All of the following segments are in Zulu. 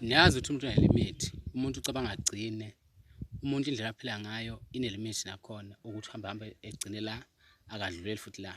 niyazi ukuthi umuntu unelimithi umuntu ucabanga agcine umuntu indlela aphila ngayo inelimithi nakhona ukuthi uhambe hambe egcine la akadluleli futhi la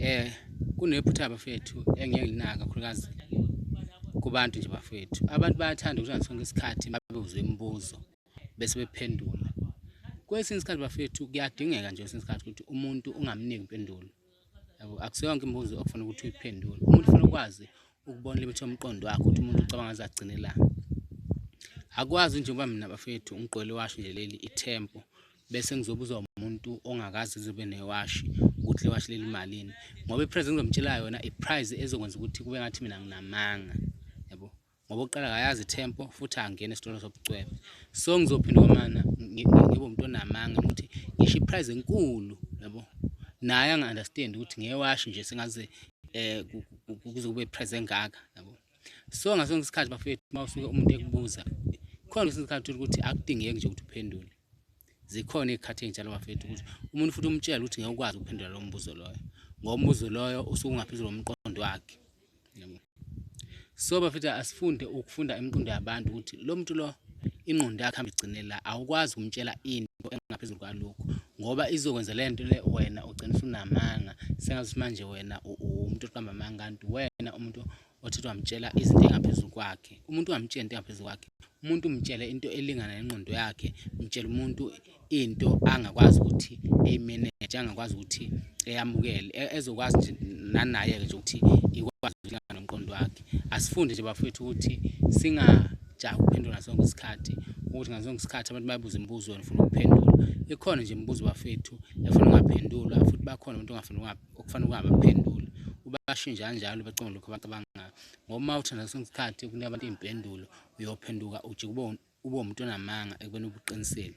eh kunephutha abafethu engeke linaka kakhulukazi kubantu nje bafethu abantu bayathanda ukuthi sonke isikhathi babuzwe imibuzo bese bephendula kwesinye isikhathi bafethu kuyadingeka nje kwesinye isikhathi ukuthi umuntu ungamniki impendulo yabo akuseyonke imibuzo okufuna ukuthi uyiphendule umuntu ufuna ukwazi ukubona limit yomqondo wakho ukuthi umuntu ucabanga aze agcinelani akwazi njengoba mina bafethu ngigqwele iwashi nje leli ithempo bese ngizobuza umuntu ongakazi zobe newashi ukuthi lewashi leli malini ngoba iprize ngizomtshela yona iprize ezokwenza ukuthi kube ngathi mina nginamanga yabo ngoba uqala akayazi tempo futhi angena esitolo sobucwebe so ngizophinda kwamana ngibe umuntu onamanga ukuthi ngisho iprize enkulu yabo naye angi-understand ukuthi ngewashi nje sengaze um kuze kube iprize engaka yabo so ngasonke isikhathi bafethu uma usuke umuntu ekubuza khona kwesinye isikhathi ukuthi akudingeki nje ukuthi uphendule zikhona iy'khathi ey'njalo bafethu ukuthi umuntu futhi umtshela ukuthi ngeke ukwazi ukuphendula lowo mbuzo loyo ngoba umbuzo loyo usuke ungaphezulu komqondo wakhe so bafethu asifunde ukufunda imiqondo yabantu ukuthi lo muntu lo ingqondo yakhe hambe igcine la awukwazi ukumtshela into engaphezulu kwalokho ngoba izokwenza le nto le wena ugcina usunamanga sengathi manje wena umuntu oqamba amanga kanti wena umuntu Othetha wamtshela izinto engaphezulu kwakhe. Umuntu ungamtshela into engaphezulu kwakhe. Umuntu umtshele into elingana nengqondo yakhe. Mtshela umuntu into angakwazi ukuthi eyimeneje, angakwazi ukuthi eyamukele, e-, ezokwazi nje nanaye-ke nje ukuthi ikwazi ukuthi ilingana nomqondo wakhe. Asifunde nje bafowethu ukuthi singajahi ukuphendula sonke isikhathi ukuthi ngaso sonke isikhathi abantu bayabuza imibuzo wena ufuna ukuphendula. Ikhona nje imibuzo bafethu efuna ungaphendulwa futhi bakhona abantu ongafuni okufanele ukungabe baphendule ubashintsha kanjalo bacinga lokho abantu abangayo ngoba uma uthanda sonke isikhathi ukunika abantu iy'mpendulo uyophenduka ujike ube umuntu onamanga ekubeni ubuqinisile